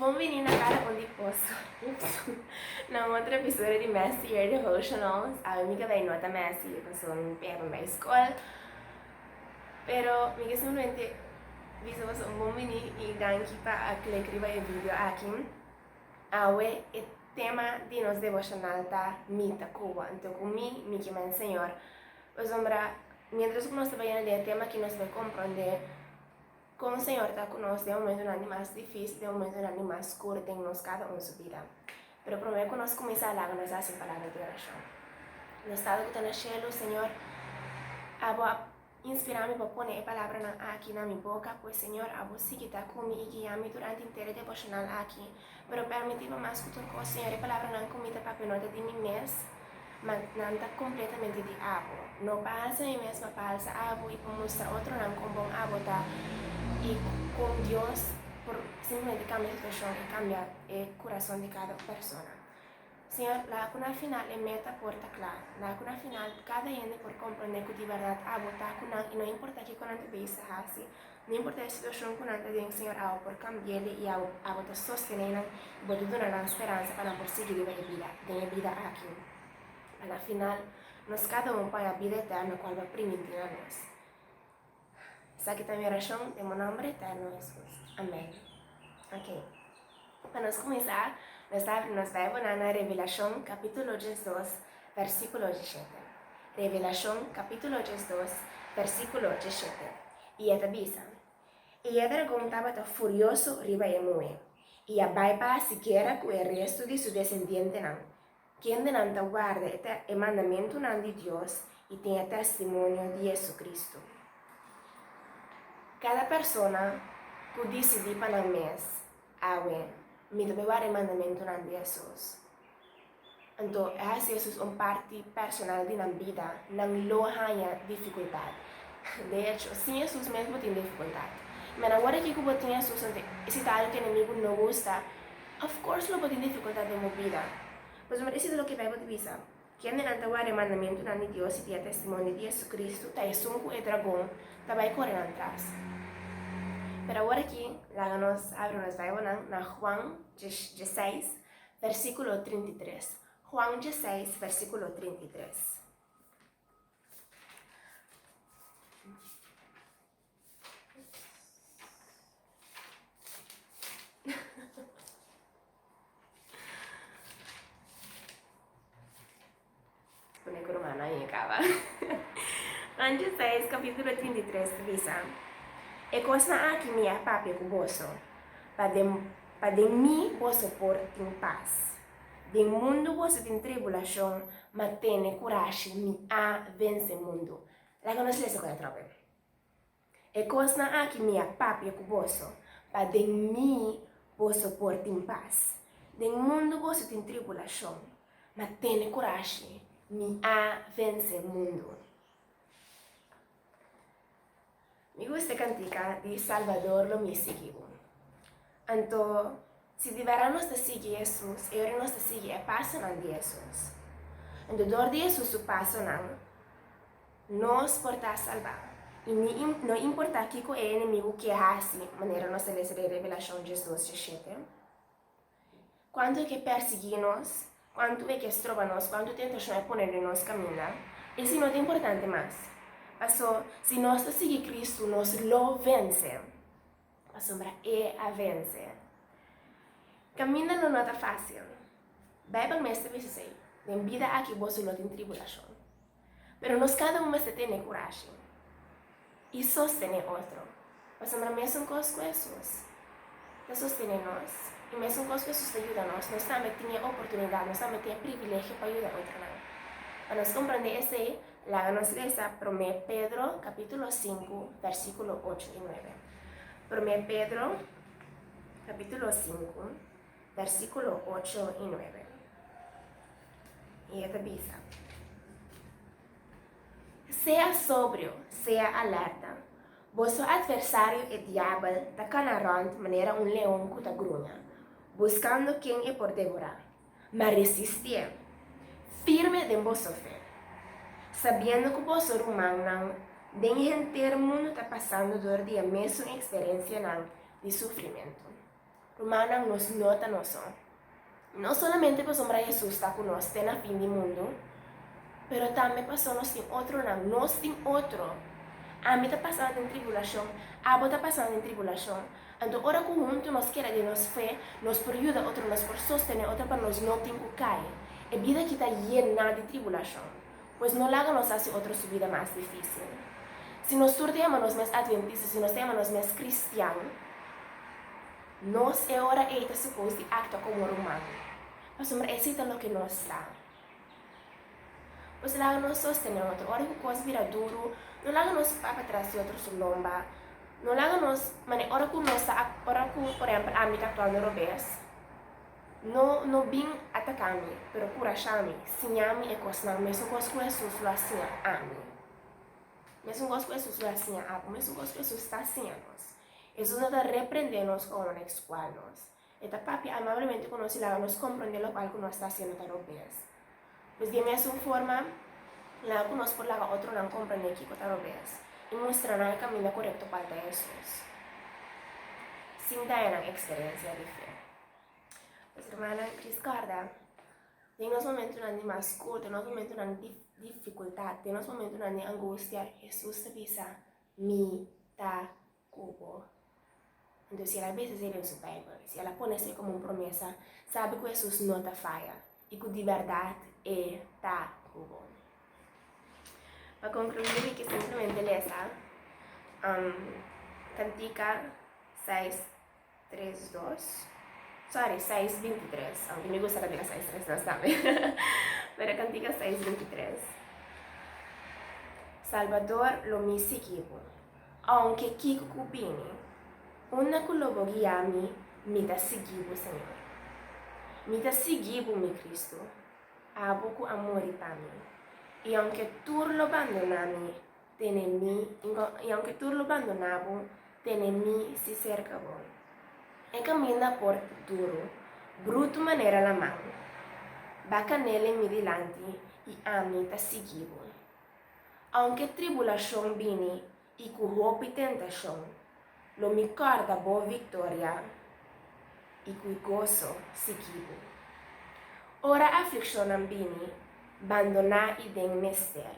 Bon vini na Kara Bon di Poso. Ups. Na un otro episodio di Mester Your Devotionals, awe mi ka bay nota mester y paso mi pega pa mi bay escola. Pero mi ke simplemente bisa boso un bon vini y danki pa a click riba e video aki. Awe e tema di nos devocional ta Mi ta Cuba, anto cu mi, mi ke men Señor. Pasobra mientras cu nos ta bay na den e tema aki nos bay comprende Kon Señor ta ku nos den momentunan di mas difísil, den momentunan di mas skuru den nos kada un su bida? Pero promé ku nos kuminsá laga nos hasi un palabra di orashon. Nos Tata ku ta na shelu, Señor, abo a inspirá mi pa pone e palabranan aki na mi boka, pues Señor, abo sigui ta ku mi i guia mi durante henter e devoshonal aki. Pero permití nomas ku tur kos señor e palabranan ku mi ta papia no ta di mi mes, ma nan ta kompletamente di Abo. No pa alsa mi mes, ma pa alsa Abo i pa mustra otronan kon bon Abo ta i kon Dios por simplemente kambia situashon i kambia e kurason di kada un persona. Señor, laga cu na final e meta por ta cla. Laga cu na final cada hende por comprende cu di berdad abo ta cu nan y no importa kico nan ta bisa haci, no importa e situacion cu nan ta den, Señor, abo por cambiele y abo, abo ta sostene nan y bo ta duna nan speransa pa nan por sigui riba e bida, den e bida aki. Pa na final, nos cada un por haña bida eterno cual bo a primiti na nos. Esaki ta mi orashon den bo nomber eterno Jesus. Amen. Ok. Pa nos kuminsá, nos ta abri nos Bibelnan na Revelashon kapítulo diesdos, versíkulo dieshete. Revelashon kapítulo diesdos, versíkulo dieshete. I e ta bisa, I e dragon tabata furioso riba e muhe, i a bai pa hasi guera ku e restu di su desendientenan, Kendenan ta warda e mandamentunan di Dios i tin e testimonio di JesuCristo? Kada persona ku disidí pa nan mes, Awe, mi ta bai warda e mandamentunan di Hesus, anto e hasi Hesus un parti personal di nan bida, nan lo haña difikultat. De echo, sin Hesus mes bo tin difikultat. Mira, wor aki ku bo tin Hesus, anto e si ta algu ku enemigu no gusta, Of course lo bo tin dificultad den bo bida. Pasobra e sido loke Bijbel ta bisa, Kendenan ta ward'é mandamentunan di Dios i tin e testimonio di JesuCristo ta esun ku e dragon ta bai kore nan tras. Pero awor aki laga nos abri nos Bijbelnan na Juan dieseis, versíkulo trinta i tres. Juan dieseis, versíkulo trinta i tres. Pone ku Romana aña kaba. Anchi seis kapítulo trinta i tres ta bisa, E kosnan aki mi a papia ku boso, pa den pa den mi boso por tin pas. Den mundu boso tin tribulashon, ma tene kurashi, mi a vense mundu. Laga nos lesa ku e atrobe. E kosnan aki mi a papia ku boso, pa den mi boso por tin pas. Den mundu boso tin tribulashon, ma tene kurashi, mi a vense mundu. Mi gusta e kantika di Salbador lo mi e sigui bo. Anto. Si di bèrdat nos ta sigui Hesus, e ora nos ta sigui e pasonan di Hesus, anto dor di Hesus su pasonan nos por ta salbá. I no importá kiko e enemigu ke hasi, manera nos ta lesa den Revelashon diasdosje shete, kuantu e ke pèrsiguí nos, kuantu e ke stroba nos, kuantu tentashon e pone den nos kaminda, esei no ta importante mas. Pasó, si nos ta sigui Kristu, nos lo vense. Pasobra E a vense. Kaminda no no ta fásil. Beibel mes ta bisa esei, Den bida aki boso lo tin tribulashon. Pero nos kada un mester tene kurashi i sostené otro. Pasobra mesunkos ku Hesus ta sostené nos i mesunkos ku Hesus ta yuda nos, nos tambe tin e oportunidat, nos tambe tin e privilegio pa yuda otronan. Pa nos komprondé esei, Laga nos lesa Promé Pedro kapítulo sinku, bèrsikulo ocho i nuebe. Promé Pedro kapítulo sinku, bèrsikulo ocho i nuebe. I e ta bisa, Sea sobrio, sea alèrta. Boso atversario e diabel ta kana rònt manera un leon ku ta gruña, buskando ken e por devorá. M'a resistié firme den boso fe, sabiendo cu boso rumannan den henter mundu ta pasando dor di e mesun experiencianan di sufrimentu. Rumannan, nos no ta nos son. No solamente pasobra Jesus ta cu nos te na fin di mundu, pero tambe pasobra nos tin otronan. Nos tin otro. Ami ta pasando den tribulacion, abo ta pasando den tribulacion. Anto ora ku huntu nos keda den nos fe, nos por yuda otro, nos por sostené otro pa nos no tin ku kai. E bida aki ta yená di tribulashon, pues no laga nos hasi otro su bida mas difísil. Si nos tur ta yama nos mes adventista, si nos ta yama nos mes kristian, nos e ora ei ta supos di aktua komo ruman, pasobra esei ta loke nos ta. Nos laga nos sostené otro. Ora ku kos bira duru, no laga nos pa patras di otro su lomba. No laga nos mane ora ku nos ta ak ora ku por ehempel ami ta aktuando robes, no no bin ataka mi, pero kurashá mi, siña mi e kosnan, mesun kos ku Hesus lo a siña ami. Mesun kos ku Hesus lo a siña abo, mesun kos ku Hesus ta siña nos. Hesus no ta reprendé nos kon lo a ekskual nos. E ta papia amablemente ku nos i laga nos komprondé lokual ku nos ta hasiendo ta rog bes. Pues di e mesun forma, laga ku nos por laga otronan komprondé kiko ta rog bes i mustra nan e kaminda korekto kual ta Hesus, sin daña nan eksperensia di fe. Pues, hermannan, riskorda, den nos momentunan di mas kurta, nos momentunan di difikultat, den nos momentunan di angustia, Hesus ta bisa, Mi ta cu bo. Entonces el a bisa esei den su Bijbel, y el a pone esei como un promesa, sabi cu Jesús no ta faya y cu di berdad E ta cu bo. Pa concluir mi kier simplemente lesa um, Cantica seis Tres dos, sorry, seis binti tres, aunke mi gusta cantica seis tres dos tambe, pero cantica seis binti tres. Salvador, lo mi sigui bo, aunke kico cu bini, unda cu lo bo guia mi, mi ta sigui bo, Señor. Mi ta sigui bo, mi Cristo, abo cu a muri pa mi, y aunke tur lo bandona mi, tene mi, i aunke tur lo bandoná bo, tene mi si serka bo. E kaminda por duru, brutu manera laman, ba kanele mi dilanti i ami ta sigui bo. Aunke tribulashon bini i ku hopi tentashon, lo mi kòrda bo viktoria i ku goso sigui bo. Ora aflikshonnan bini, bandoná i den mester,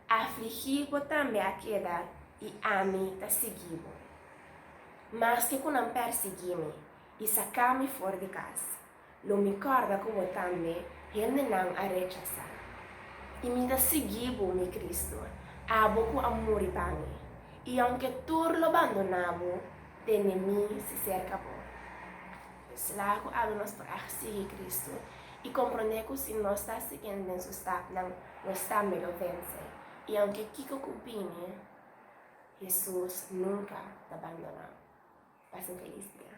Afligí bo tambe a keda i ami ta sigui bo. Maske ku nan pèrsiguí mi i saká mi for di kas, lo mi kòrda ku bo tambe hendenan a rechasá. I mi ta sigui bo, mi Kristu, abo ku a muri pa mi, i aunke tur lo bandoná bo, tene mi si serka bo. E sla ku abri nos por a sigui Kristu i komprondé ku si nos ta siguiendo den su stapnan, nos tambe lo vense. I aunke kiko ku bini, Hesus nunka ta bandonan. Pasen felis dia.